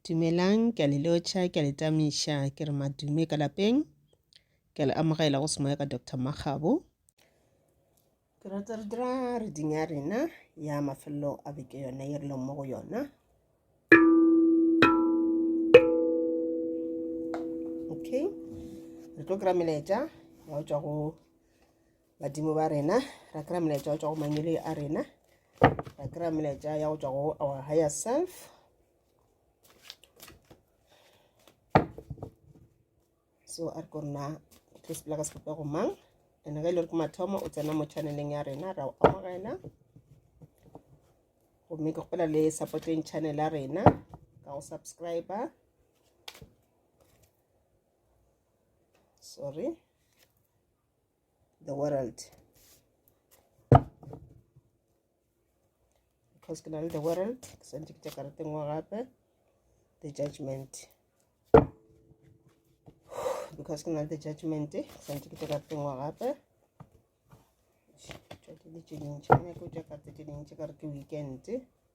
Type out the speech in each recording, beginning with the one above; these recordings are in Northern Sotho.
Dumelang, ke a le lotšha, ke a le tamiša, ke re madume ka lapeng. Ke a le amogela go semoya ka Doctor Makgabo. Ke rata re dira reading ya rena ya mafelelo a beke yona ye re leng mo go yona. Okay, re tlo kry-a melaetša ya go tšwa go badimo ba rena ra kry-a molaetša go tswa go mangweleng a rena ra kry-a molaetša ya go tswa go our higher self so a re ko rena tlo sepela ka sebopego mang and ge e le gore ke mathomo o tsena mo channeleng ya rena ra o amogela gomme ke kgopela le supporteng channel ya rena ka go subscriber sorry the world because ke na le the world ke swantse ke tša karete nngwe gape the judgment because ke na le the judgment ke swantse ke tša karete nngwe gape tšwatile tše dintši ke nyake o tša karete tše dintši ka re ke weekend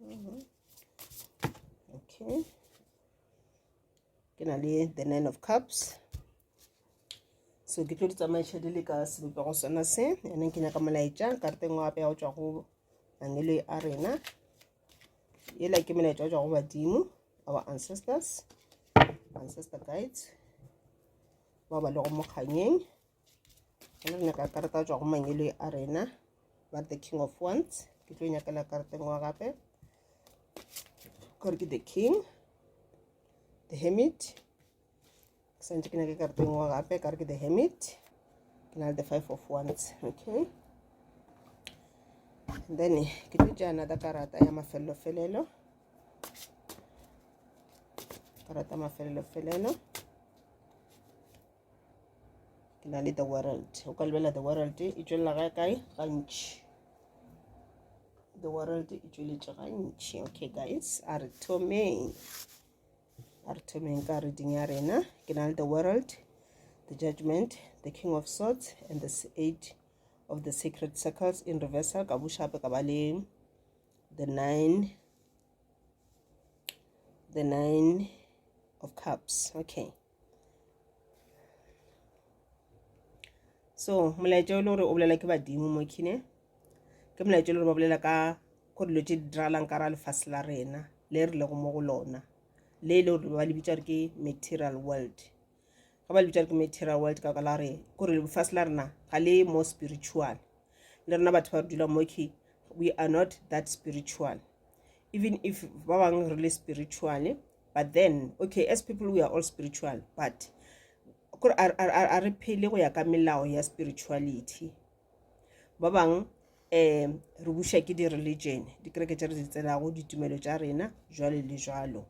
mm -hmm. okay ke na le the nine of cups so ke tlo di tsamaiša di le ka sebopego sona se ene ke nyaka molaetša karteng wa apeya go tšwa go angelo a rena ela ke molaetša go tšwa go badimo our ancestors ancestor guides ba ba lego mokganyeng Hello, nyaka karata jwa go mangele a rena ba the king of wands ke tlo nyakela karata e nngwe gape gore ke the king the hermit ke santse ke nyake karata e nngwe gape kare ke the hermit ke na le the five of wands okay and then ke tlo tša another karata ya mafelelo-felelo karata mafelelo-felelo ke na le the world o ka lebela the world e tšwelela ga kae gantši the world e tšweletše gantši okay guys a re thomeng a re thomeng ka reading ya rena ke na le the world the judgment the king of swords and the eight of the sacred circles in reversal ka bushape ka ba le the nine the nine of cups okay so molaetša o le gore o bolela ke badimo mo kine ke molaetša o le gore ba bolela ka go dilo tše di diralang ka ra lefase la rena le re lego mo go lona le e le gore ba le bitsa gore ke material world ga ba le bitsa gore ke material world ka ka la gore kore lefase la rena ga le mo spiritual le rena batho ba re dula moki we are not that spiritual even if ba bangwe re le spiritual but then okay as people we are all spiritual but kore a re phele go ya ka melao ya spirituality ba bangwe um eh, re buša ke di-religion dikereke tša re di tselago ditumelo tša rena jwale le jwalo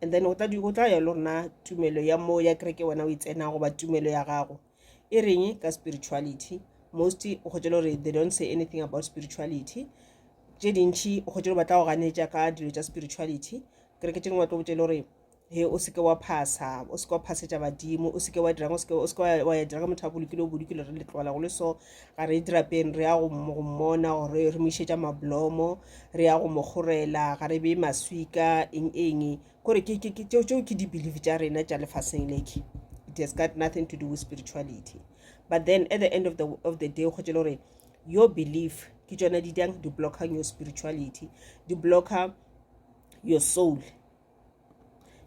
and then go tla ya le rona tumelo ya mo ya kereke wena o e tsena goba tumelo ya gago e reng ka spirituality most o kgotse le gore they don't say anything about spirituality tše dintšhi o kgotse le batla go ganetša ka dilo tša spirituality kereke tše dingwe wa tlo botse le gore he o seke wa phasa o seke wa phasetša badimo o seke wa dirang o seke wa ya dirang motho a bolokile o bolokile re le tlogela go le so ga re dirapeng re ya go mmona gore re mo išetša mablomo re ya go mo kgorela ga re beye maswika eng eng kore ke ke ke tšeo tšeo ke di-believe tša rena tša lefaseng leke it has got nothing to do with spirituality but then at the end of the, of the day go tšele gore your belief ke tšona di dang di blockang your spirituality di blocka your soul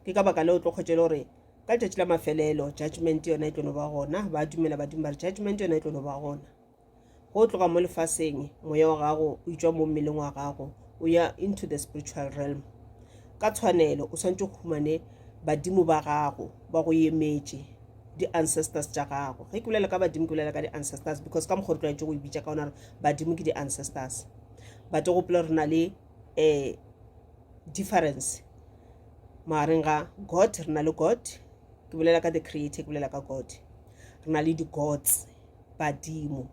ke ka baka le o tlo kgotšele gore ka tšatši la mafelelo judgment yona e tlo no ba gona ba dumela badimo ba re judgment yona e tlo no ba gona go tloga mo lefaseng moya wa gago o itšwa mo mmeleng wa gago o ya into the spiritual realm ka tshwanelo o swantse go humane badimo ba gago ba go emetše di-ancestors tša gago ge ke bolela ka badimo ke bolela ka di-ancestors because ka mokgwa re tlwaetse go e bitša ka ona gore badimo ke di-ancestors bate gopela re na le um difference magareng ga god re na le god ke bolela ka the creator ke bolela ka god re na le di-gods badimo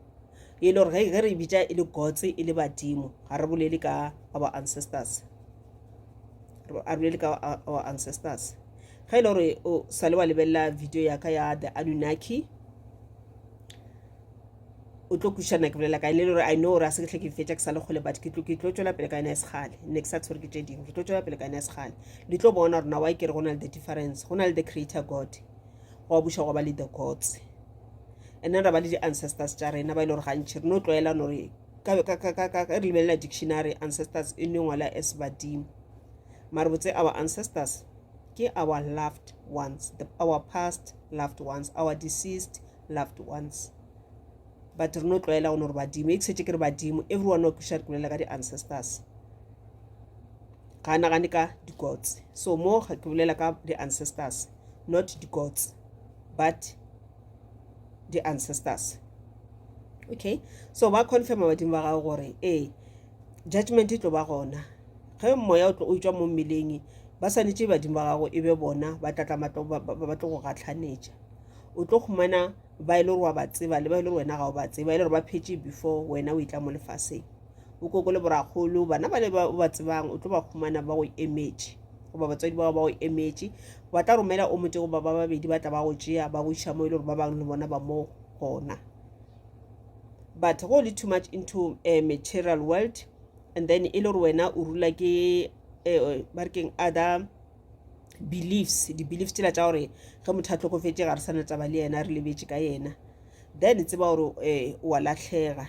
e le gore ge re bitša e le gods e le badimo ga re bolele ka our ancestors a bolele ka our ancestors ge e le gore o sale wa lebelela video ya ka ya the anunnaki o tlo kušana ke bolela kae le gore i know gore a se ke tle ke fetša ke sa le kgole but ke tlo ke tlo tšwela pele ka ena e segale ne ke sa tshwere ke tše dingwe ke tlo tšwela pele ka ena e segale di tlo bona gore na wa e kere go na le the difference go na le the creator god gwa buša gwa ba le the gods and then ra ba le di-ancestors tša rena ba e le gore gantšhi re no tlwaela no re re lebelela dictionary ancestors e no ngwala as badimo mare botse our ancestors ke our loved ones the, our past loved ones our deceased loved ones but re no tlwaela go no re badimo e ke setse ke re badimo everyone o kuša re kulela ka di-ancestors ga nagane ka di-gods so mo ke bolela ka di-ancestors not the gods but the ancestors okay so ba confirma badimo ba gago gore ee judgment e tlo ba gona ge moya o tlo o tšwa mo mmeleng ba swanetše badimo ba gago e be bona ba tlatla ba tlo go gatlhanetša o tlo humana ba e le gore wa ba tseba le ba e le gore wena ga o ba tseba e le gore ba phetše before wena o itla mo lefaseng o koko le borakgolo bana ba le ba ba tsebang o tlo ba humana ba go emetše goba batswadi bao ba go emetše ba tla romela o motse goba ba babedi ba tla ba go tšea ba go iša mo e le gore ba bangwe le bona ba mo gona but go le too much into a material world and then e le gore wena o rula ke eh, ba re keng other beliefs di-beliefs tsela tša gore ge motho a tlhokofetse ga re sana taba le yena re lebetse ka yena then tseba gore um wa latlhega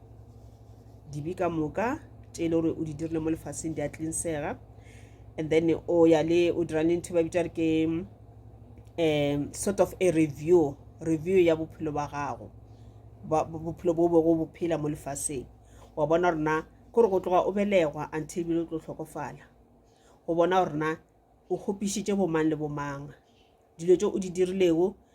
dibe ka moka tše e le gore o di dirile mo lefaseng di a tlinsega and then o ya le o dira le ntho ba bitsa re ke um sort of a review review ya bophelo ba gago bophelo bo bego bo phela mo lefaseng wa bona rona kore go tloga o belegwa until bile o tlo tlhokofala go bona gorena o kgopišitše bomang le bomang dilo tse o di dirilego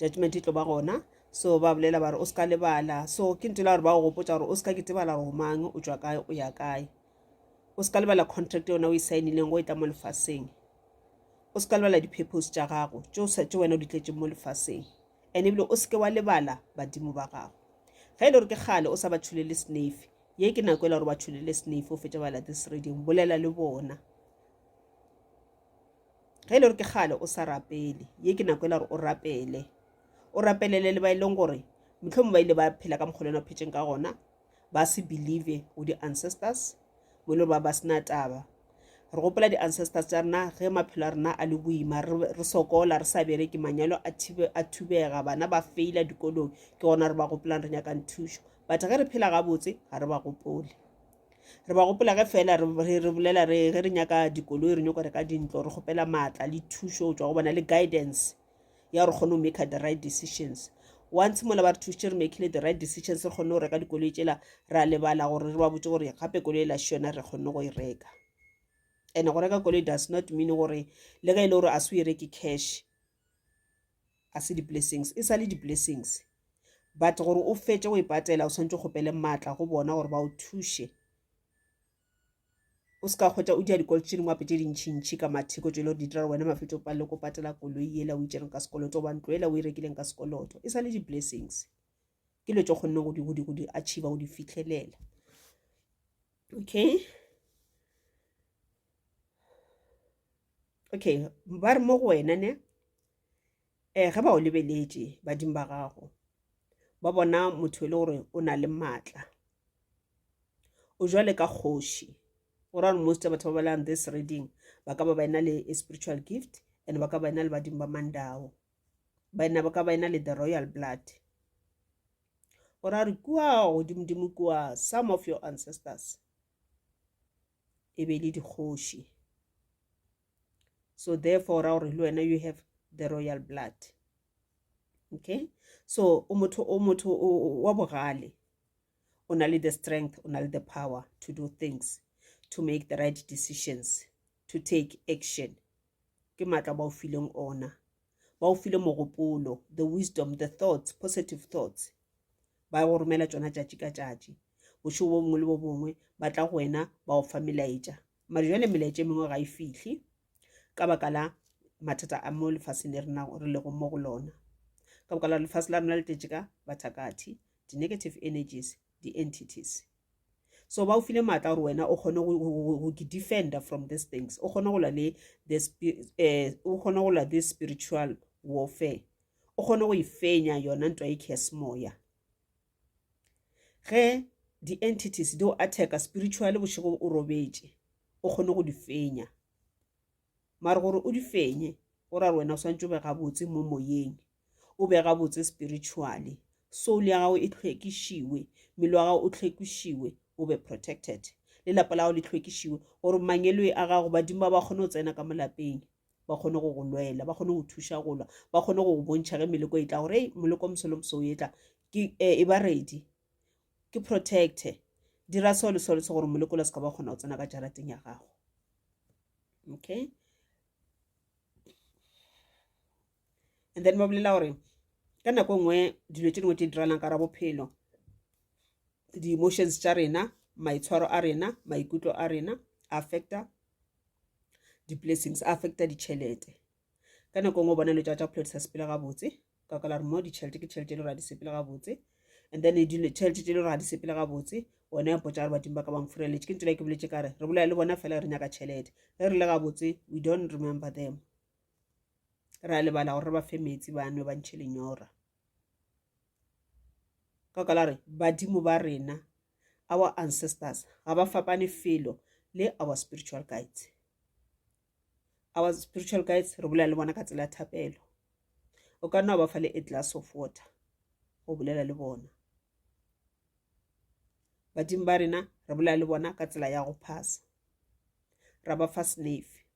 judgment e tlo ba gona so ba bolela ba re o se ka lebala so ke ntela gore ba go gopotsa gore o se ka ketebala gore omang o tswa kae o ya kae o se ka lebala contract yona o e saenileng go e tla mo lefaseng o se ka lebala di-purpose tša gago tše wena o di tletseng mo lefaseng and ebile o seke wa lebala badimo ba gago ge e le gore ke kgale o sa ba tšholele snafe ye ke nako e le gore ba tšholele snafe o fetša bala this reading bolela le bona ge e le gore ke kgale o sa rapele ye ke nako e la gore o rapele o rapelele le ba e leng gore motlhomo ba ile ba phela ka mokgwa le wena phetšeng ka gona ba se believe go di-ancestors mo e le gore ba ba sena taba re gopola di-ancestors tša rena ge maphelo a rena a le boima re sokola re sa bereke manyalo a thubega bana ba feila dikolong ke gona re ba gopolang re nyakang thušo but ge re phela gabotse ga re ba gopole re ba gopola ge fela re re bolela re ge re nyaka dikoloi re nyoko reka dintlo re kgopela maatla le thušo go tswa go bona le guidance ya gore kgone go make the right decisions once mola ba re thusitše re makile the right decisions re kgone go reka dikoloi tsela ra lebala gore re ba botse gore gape koloi e la šona re kgone go e reka and go reka koloi does not mean gore le ge e le gore a se o e reke cash a se di-blessings e sa le di-blessings but gore o fetše go e patela o tshwanetse o kgopele maatla go bona gore ba o thuše o se ka kgwetsa o dia dikoloto tše dingwe gape tše dintšhintšhi ka matheko tšele gore di dira wena mafetso o palele ko patela koloi ela o itšereng ka sekoloto goba ntlo ela o e rekileng ka sekoloto e sa le di-blessings ke dilo tse kgonne go di achieva go di fitlhelela okay okay ba re mo go wena ne um ge ba o lebeletše badimo ba gago ba bona motho e le gore o na le maatla o jwale ka kgoši gore gore most ya batho ba balang this reading ba ka ba ba ena le spiritual gift and ba ka ba ena le badimo ba mandao ba enabo ka ba ena le the royal blood o ra re kua godimodimo kua some of your ancestors e be le dikgoši so therefore ra gore le wena you have the royal blood okay so o motho o motho wa bogale o na le the strength o na le the power to do things to make the right decisions to take action ke matla ba o fileng ona ba o file mogopolo the wisdom the thoughts positive thoughts ba go romela tsona tšatši ka tšatši bošego bo bongwe le bo bongwe ba tla go wena ba go fa melaetša mare jale melaetša e mengwe ga e fihle ka baka la mathata a mo lefaseng le rena re lego mo go lona ka baka la lefase la rona le tletše ka bathakathi di-negative energies di-entities so ba o file maatla gore wena o kgone go ke defender from these things o kgone go lwa le eh, o kgone go lwa this spiritual warfare o kgone go e fenya yona ntwa e kesemoya ge di-entities di o attacka spiritually bošego o robetše o kgone go di fenya mare gore o di fenye go ra gore wena o swantse o be gabotse mo moyeng o be gabotse spiritually soul ya gago e tlhwekišiwe mmele wa gago o tlhwekišiwe o be protected le lapa la gago le tlhwekišiwe gore mangelwe a gago badimo ba ba kgone go tsena ka molapeng ba kgone go go lwela ba kgone go thuša go lwa ba kgone go go bontšha ge meleko e tla gore e moleko mosolo moso o e tla ke eh, e ba redi ke protecte dira seo le seo le se gore moleko la se ka ba kgona go tsena ka jarateng ya gago okay and then ba bolela gore ka nako e nngwe dilo tse dingwe tse di diralang ka ra bophelo di-emotions tša rena maitshwaro a rena maikutlo a rena affecta di-blessings affecta ditšhelete ka nako e nngwe bona lo tša tša bophelo di sa sepela gabotse ka ka la re mo ditšhelete ke tšhelete e le gore a di sepele gabotse and then e dile tšhelete tse e le gore ga di sepele gabotse one ya potsa gore badimo ba ka bang fureletse ke ntsela ke boletse ka re re bolaya le bona fela re nyaka tšhelete ge re le gabotse we don't remember them ra lebala gore re ba fe metsi ba nwe ba ntšhe lenyora ka ka la re badimo ba rena our ancestors ga ba fapane felo le our spiritual guides our spiritual guides re bolela le bona ka tsela ya thapelo o ka nna wa ba fa le a glass of water go bolela le bona badimo ba rena re bolela le bona ka tsela ya go phasa ra ba fa snafe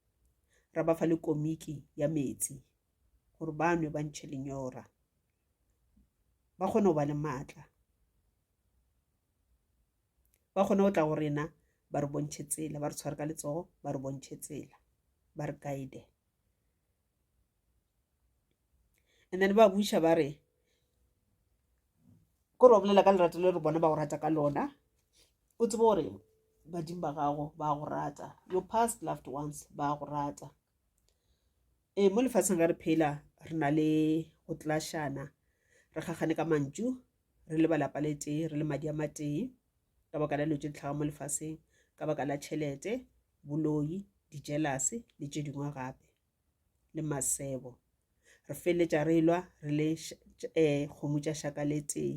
ra ba fa le komiki ya metsi gore ba nwe ba ntšhe lenyora ba kgone go ba le maatla ba kgone go tla go rena ba re bontšhe tsela ba re tshware ka letsogo ba re bontšhe tsela ba re guide and then ba buša ba re ko re bolela ka lerato le re bona ba go rata ka lona o tsebe gore badimo ba gago ba go rata your past loved ones ba go rata ee mo lefatsheng re re phela re na le go tlashana re gagane ka mantšu re le balapa le tee re le madi a matee ka baka la dilo tše di tlhaga mo lefaseng ka baka la tšhelete boloi dijelase le tše dingwe gape le masebo re feleletša re lwa re le um kgomo tša šaka le tee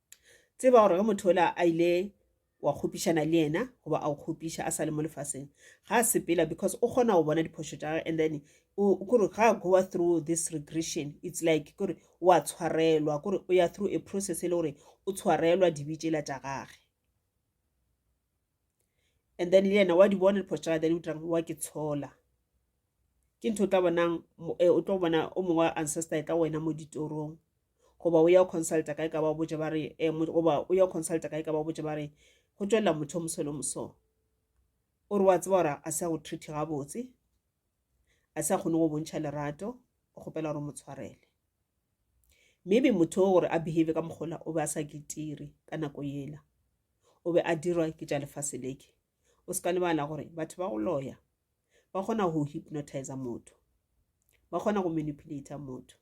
tseba gore ge motho ola a ile wa kgopišana le yena goba a o kgopiša a sa le mo lefaseng ga a sepela because o kgona go bona diphošo tša gage and then kore ga a goa through this regression it's like kore wa tshwarelwa kore o ya through a process e le gore o tshwarelwa dibitšela tša gage and then le yena wa di bona diphošo tša gage then o dirang wa ke tshola ke ntho o tla bonang eh, o tlo bona o mongwe ancestor e tla wena mo ditorong goba o ya consulta kae ka ba botse ba re eh, goba o ya consulta kae ka ba botse ba re go tswelela motho o mosolo moso o re wa tseba gore a se a go treat gabotse a se a kgone go bontšha lerato o kgopela gore o mo tshwarele maybe motho o gore a behave ka mokgola o be a sa ketiri ka nako yela o be a dirwa ke tša lefase leke o se ka lebala gore batho ba go loya ba kgona go hypnotiza motho ba kgona go manipulata motho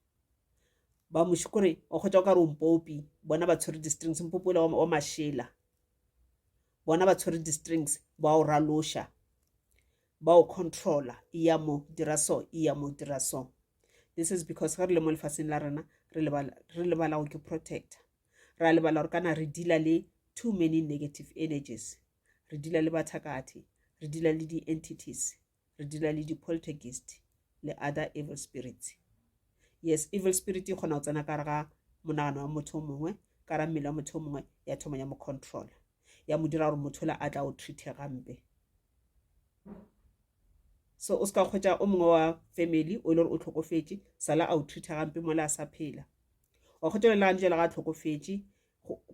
ba moši kore o kgotsa o ka re ompopi bona ba tshwere di-strings mpopi ola wa mašela bona ba tshwere di-strings ba o raloša ba o controla e ya mo dira so e ya mo dira so this is because ge re le mo lefaseng la rena re lebala go ke protector ra lebala gore kana re deala le too many negative energies re dila le bathakathi re dila le di-entities re dila le di-poltergeist le other evil spirits yes evil spirit e kgona go tsena kare ga monagano wa motho o mongwe ka ra mmele wa motho o mongwe ya thoma ya mo controla ya mo dira gore motho la a tla o treate gampe so o se ka kgwetsa o mongwe wa family o e le gore o tlhokofetse sala a o treata gampe mola a sa phela wa kgwetsa le gane jale ga a tlhokofetse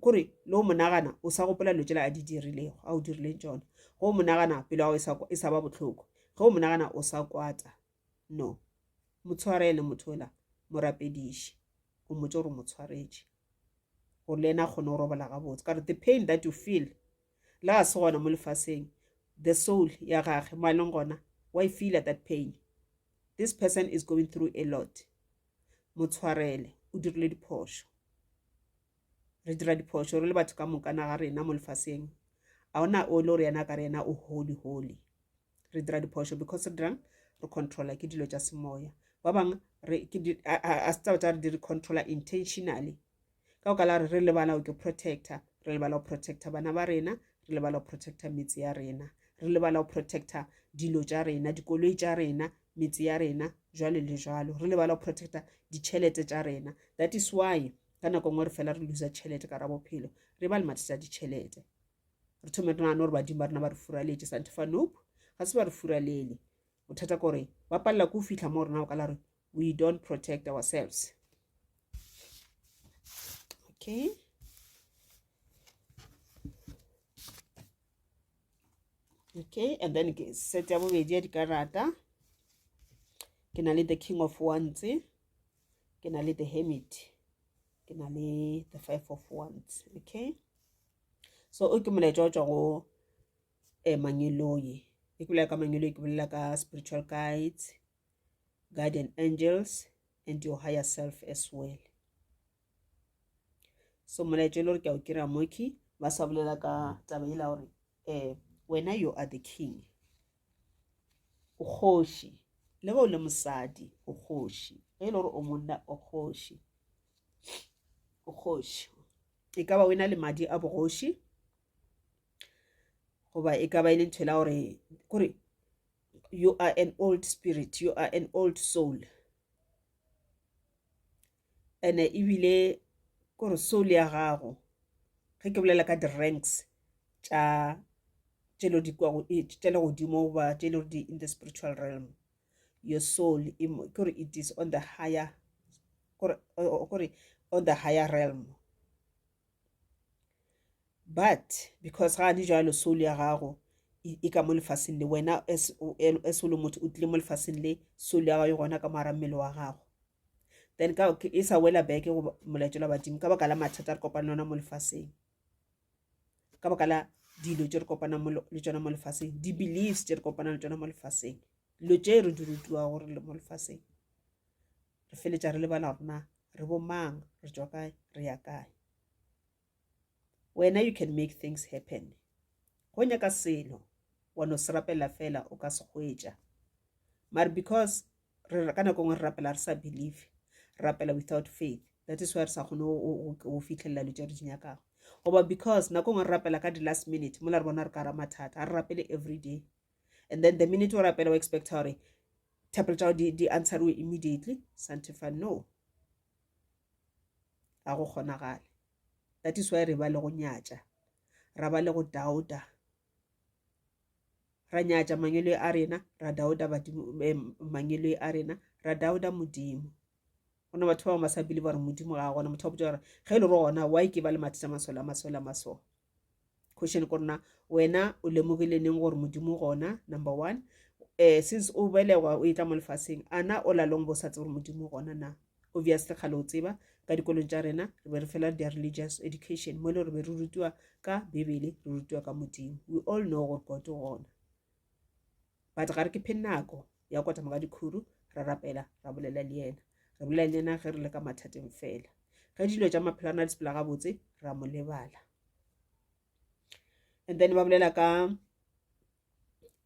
kore le o monagana o sa gopola dilo tsela a di dirilego a o dirileng tsona ge o monagana pelo ya gago e sa e ba bohloko ge o monagana o sa kwata no motshwarele motho ola morapediše o motse gore motshwaretše gore le ena a kgone go robala gabotse ka gore the pain that you feel la ga se gona mo lefaseng the soul ya gage mo a leng gona wa e feela that pain this person is going through a lot mo tshwarele o dirile diphošo re dira diphošo re le batho ka moka na ga rena mo lefaseng a ona o le gore yena ka re yena o holy holy re dira diphošo because re dirang re controla ke dilo tša semoya ba bangwe a se tsaba tsa re di re controla intentionally ka go kala re re lebala go protector re lebala go protector bana ba rena re lebala go protector metse ya rena re lebala go protector dilo tša rena dikoloi tša rena metse ya rena jwale le jwalo re lebala go protector ditšhelete tša rena that is why ka nako nngwe re fela re losa tšhelete ka ra bophelo re ba le mathata a ditšhelete re thome re nagane gore badimo ba rena ba re furaletse santefa nope ga se ba re furalele bothata kore ba palela ko o fitlha mo rena o kala re we don't protect ourselves okay okay and then ke set ya bobedi ya dikarata ke na le the king of wands ke na le the hermit ke na le the five of wands okay so o ke molaetša o tswa go um eh, mangeloi e ke bolela ka mangeloi ke bolela ka spiritual guides guardian angels and your higher self as well so molaetso e le gore ke a o kira moki ba sa bolela ka taba e la gore um wena you are the king o kgoši le ge o le mosadi o kgoši ge e le gore o monna o kgoši o kgoši e ka ba o e na le madi a bogoši goba e ka ba e le ntho e la gore kore you are an old spirit you are an old soul ene ebile kore soul ya gago ge ke bolela ka di-ranks tša tšelo di kwa e, tšele godimo goba tšele di in the spiritual realm your soul kore it is on the higher kore on the higher realm but because ga di jalo soul ya gago e ka mo lefaseng le wena as o le motho o tlile mo lefaseng le soul ya gago e gona ka mo gare mmele wa gago then ka e sa wela back go molaetšo la badimo ka baka la mathata re kopane ona mo lefaseng ka baka la dilo tse re kopanang le tsona mo lefaseng di-beliefs tse re kopanang le tsona mo lefaseng dilo tse re di rutiwa gore le mo lefaseng re feletsa re lebala gore na re bo mang re tšwa kae re ya kae wena you can make things happen go nyaka selo wa no se rapela fela o ka se hwetša mare because re ka nako ngwe re rapela re sa believe rapela without faith that is why re sa kgone go fitlhelela dilo tse re di nyakago goba because nako ngwe re rapela ka di-last minute mola re bona re ka ra mathata ga re rapele every day and then the minute o rapela o expecta gore thapelo tša di, di answeriwe immediately santefa no ga go kgonagale that is why re ba le go nyatša ra ba le go dauta ra nyatša mangwele a rena ra dauta eh, mangwele a rena ra dauta modimo go na batho ba bangwe ba sa bile ba re modimo ga gona motho wa botsa gore ge e le gore gona why ke ba le mathata masole a masole a masole question ko rena wena o lemogile neng gore modimo gona number one um since o belegwa o e tla mo lefaseng a na o lalong bo sa tse gore modimo gona na obviously kgale o tseba ka dikolong tša rena re be re fela their religious education mo e le re be re rutiwa ka bebele re rutiwa ka modimo we all know gore god o gona but ga re ke phe nako ya go kotama ka dikhuru ra rapela ra bolela le yena re bolela le yena ge re le ka mathateng fela ge dilo tša maphelo a na le sepela gabotse ra mo lebala and then ba bolela ka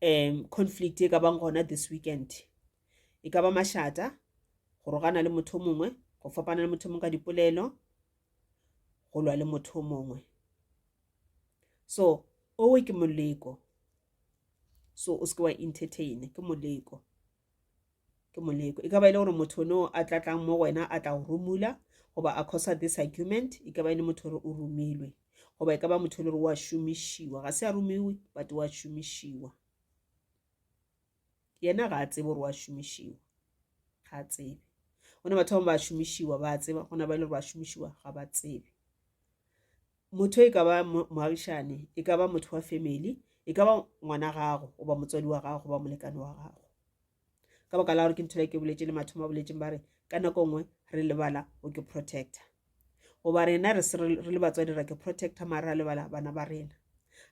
um conflict e ka bang gona this weekend e ka ba mašata go rogana le motho mongwe go fapana le motho mongwe ka dipolelo go lwa le motho mongwe so owe ke moleko so o seke wa entertain ke moleko ke moleko e ka ba e le gore motho no a tla tlang mo wena a tla go romula goba a cosa this argument e ka ba e le motho gore o romilwe goba e ka ba motho le gore wa šomišiwa ga se a romiwe but wa šomišiwa yena ga a tsebe gore wa šomišiwa ga a tsebe gona batho ba ba šomišiwa ba tseba gona ba ile gore ba šomišiwa ga ba tsebe motho e ka ba moagišane e ka ba motho wa family e ka ba ngwana gago goba motswadi wa gago goba molekane wa gago ka baka la gore ke ntho le ke boletse le mathomo a boletseng ba re ka nako nngwe re lebala o ke protector goba rena re le batswadi ra ke protector mare ra lebala bana ba rena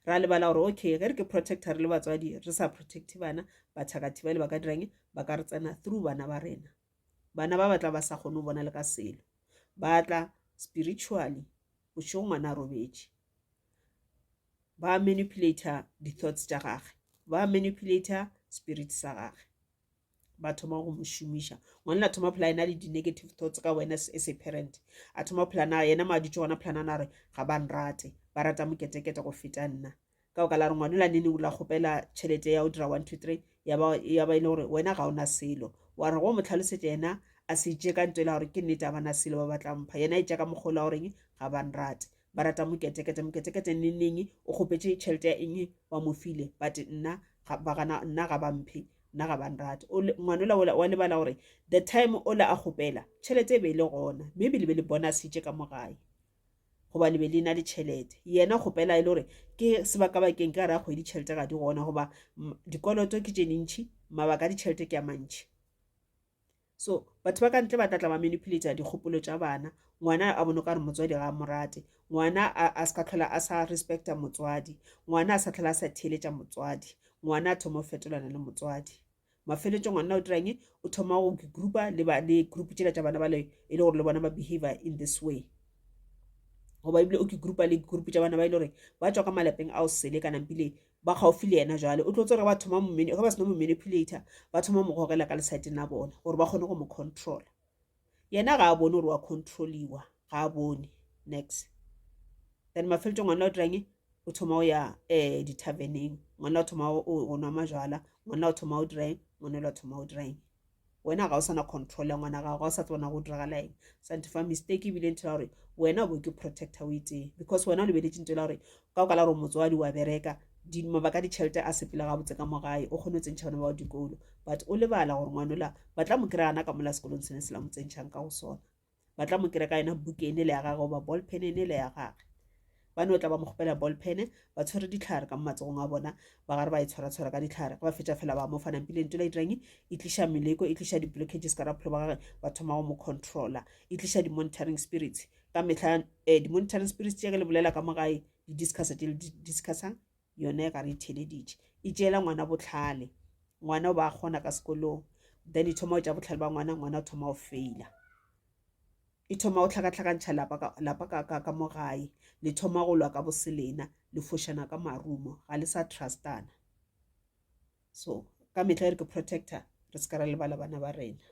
ra lebala gore okay ge re ke protector re le batswadi re sa protect bana bathakathi ba le ba ka dirang ba ka re tsena through bana ba rena bana ba batla ba sa kgone go bona le ka selo ba tla spiritually bošego ngwana a robetše ba manipulator di-thoughts tša gage ba manipulator spirit sa gage ba thoma go mo šomiša ngwanela thoma phela ena le di-negative thoughts ka wena as a parent a thoma phela na yena ma dutse gona phela nana re ga ba nrate ba rata moketekete go feta nna ka go ka la re ngwanela nene o la kgopela tšhelete ya go dira one two three ya ba e le gore wena ga ona selo wa re go mo tlhalosetša yena a se tše ka nto e la gore ke nnete a bana selo ba batla mpha yena e tša ka mokgolo wa goreng ga ba nrate ba rata moketekete moketekete nnenneng o kgopetše tšhelete ya eng ba mo file but nna ba gana nna ga ba mphe nna ga ba nrate ngwanola wa lebala gore the time o la a kgopela tšhelete e be e le gona maybe le be le bonasitše ka mo gae goba le be le na le tšhelete yena kgopela e le gore ke sebaka bakeng ka ra kgwedi tšhelete ga di gona goba dikoloto ke tše dintšhi mabaka a ditšhelete ke a mantšhi So batho ba ka ntle ba tla tla ba manipulator dikgopolo tša bana, ngwana a bone kare motswadi ga a mo rate, ngwana a, a se ka tlhola a sa respecta motswadi, ngwana a sa tlhola a sa theeletša motswadi, ngwana a thoma go fetolana le motswadi. Mafeletšo ngwana o dirang o thoma go groupa le, ba, le group tšela tša bana bale e le gore le bona ba behavior in this way goba ebile o ke groupa le group tša bana ba e le gore ba tswa ka malapeng ao sele kana mpile ba kgaofi le yena jwale o tlo tsere ba thoma mo ge ba sena mo manipulator ba thoma mo gogela ka lesaeteng la bona gore ba kgone go mo controla yena ga a bone gore wa controliwa ga a bone next then mafeletsong ngwana o dirang o thoma o ya um di-tarveneng ngwana o thoma o nwa majala ngwana o thoma o dirang ngwana o thoma o dirang wena ga o sana control ya ngwana gago ga o sa tsebana go diragala eng sante fa mistake ebile nthela gore wena o bo ke protector o itseng because wena o lebeletse ntela gore ka o kala gore motswadi wa bereka di mabaka di chelete a sepela ga botse ka mo gae o kgone o tsentšha bana ba dikolo but o lebala gore ngwanola ba tla mo kry ana ka mola sekolong sene se la mo tsentšhang ka go sona ba tla mo kry ka yona buke ene le ya gage goba ball pen ene le ya gage ba ne o tla ba mo kgopela ball pen ba tshwere ditlhare ka mo matsogong a bona ba gare ba e tshwara-tshwara ka ditlhare ba fetša fela ba mo fana pile nto la itirang e tliša meleko e tliša di-blockages ka rapholo ba gage ba thoma go mo controla e tliša di-monitoring spirits ka metlha um di-monitoring spirits tše ke le bolela ka mo gae di-discussa tše le di-discussang yona e ka re itheleditše e tšeela ngwana botlhale ngwana o ba kgona ka sekolong then e thoma o tša botlhale ba ngwana ngwana o thoma o faila e thoma o tlhakatlhakantšha lapa ka mo gae le thoma go lwa ka boselena le fošana ka marumo ga le sa trustana so ka metlha e re ke protector re se ka ra lebala bana ba rena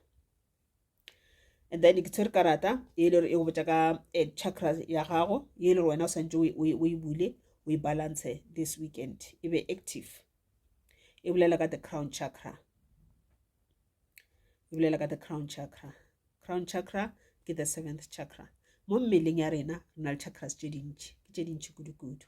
and then ke tshwere karata e le gore e go botša ka eh, chakra ya gago e le gore wena o swantse o e bule o e balance this weekend e be active e bolela ka the crown chakra e bolela ka the crown chakra crown chakra ke the seventh chakra mo mmeleng ya rena re na le chakras tse dintši ke tse dintši kudu-kudu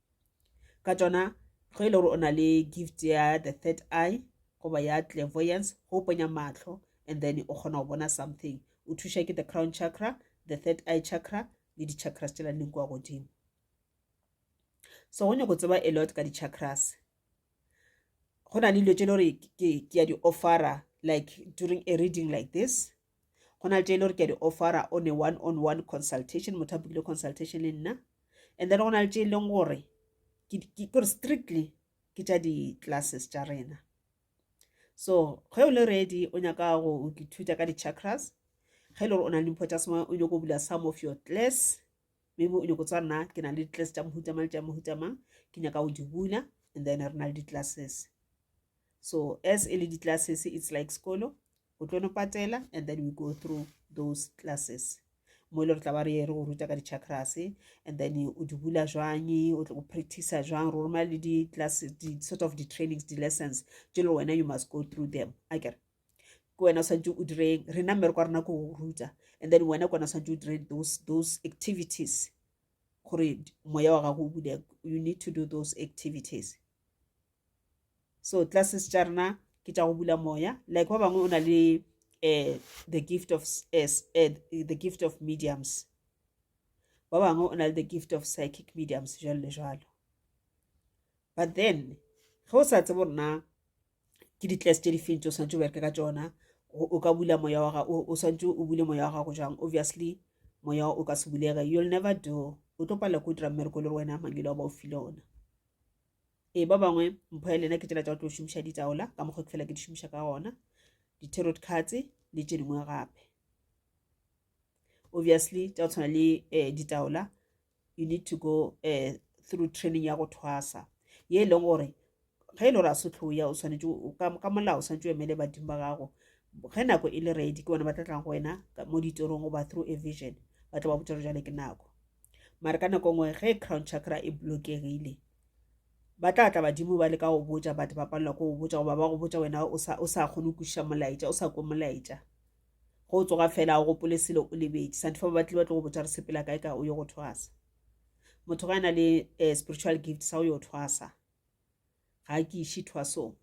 ka tšona ge e le gore o na le gift ya the third eye goba ya clairvoyance go ponya mahlo and then o kgona go bona something o thuša ke the crown chakra the third eye chakra le di-chakras tšela leng kwa godimo so go nyako tseba a lot ka di-chakras go na le dilo tse le gore ke ya di-offera like during a reading like this go na le tše e le gore ke a di offera on a one on one consultation motho a bukile consultation le nna and then go na le tše e leng gore kore strictly ke tša di-classes tša rena so ge o le ready o nyaka go ithuta ka di-chakras ge e le gore o na le dimpho tša semoya o nyako bula some of your class maybe o nyako tsa nna ke na le di-class tša mohutamang le tša mohutamang ke nyaka go di bula and then re na le di-classes so as e le di-classes it's like sekolo o tlo no patela and then we go through those classes mo e le re tla ba re ye re go ruta ka di-chakras and then o di bula jwang o tlo go practice jwang ro roma le di-class di-sort of di-trainings di-lessons tse le wena you must go through them a kere ke wena o tshwanetse o direng rena mmereko wa rena ko go ruta and then wena ke wena o tshwanetse o dire those those activities gore moya wa gago o bulege you need to do those activities so classes tša rena ke tša go bula moya like ba bangwe o na le um the gift of as eh, eh, the gift of mediums ba bangwe o na le the gift of psychic mediums jalo le jalo but then ge o sa tsebo rena ke di-class tše di feng tse o swanetse o bereke ka tsona o ka bula moya wa gago o swanetse o bule moya wa gago jang obviously moya o ka se bulege you'll never do o tlo palela ko o dira mmereko le gore wena mangelo a ba o file ona ee ba bangwe mpho ya lena ke tsela tsa go tlo šomiša ditaola ka mokgwa ke fela ke di šomiša ka gona di-tarot cards le tše dingwe gape obviously tša go tshwana le um ditaola you need to go um through training ya go thwasa ye e leng gore ge e le gore a sotlhoya o tshwanetse ka molao o tshwanetse o emele badimo ba gago ge nako e le ready ke bona ba tla tlang go wena mo ditorong goba through a vision ba tla ba botsa jale ke nako mare ka nako ngwe ge crown chakra e blokegile ba tla tla badimo ba le ka go botja batho ba palelwa ko go botja goba ba go botja wena o sa o sa kgone kuša molaetša o sa ko molaetša go tsoga fela o gopole selo o lebetše santhe fa ba batle ba tlo go botja re sepela kae ka o yo go thwasa motho ga na le eh, spiritual gift sa o yo thwasa ga ke iše thwasong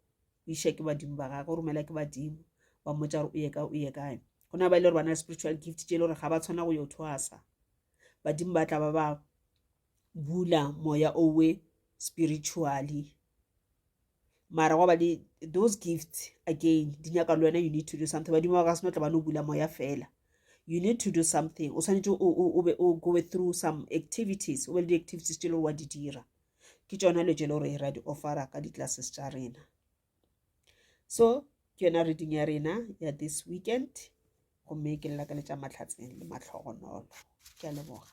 o iša ke badimo ba gage o romela ke badimo ba mmotsa gore o ye kae o ye kae go na ba e le gore ba na le spiritual gift tše e le gore ga ba tshwana go yo thwasa badimo ba tla ba ba bula moya owe spiritually mara goba di those gifts again di nyaka le wena you need to do something badimo ba ka seno tla ba no bula moya fela you need to do something o swanetse o be o go through some activities o be le di-activities tse e le gore wa di dira ke tsona lo tse e le gore ra di offera ka di-classes tša rena so ke yona reading ya rena ya this weekend gomme ke lela ka letša matlhatseng le mahlogonolo ke a leboga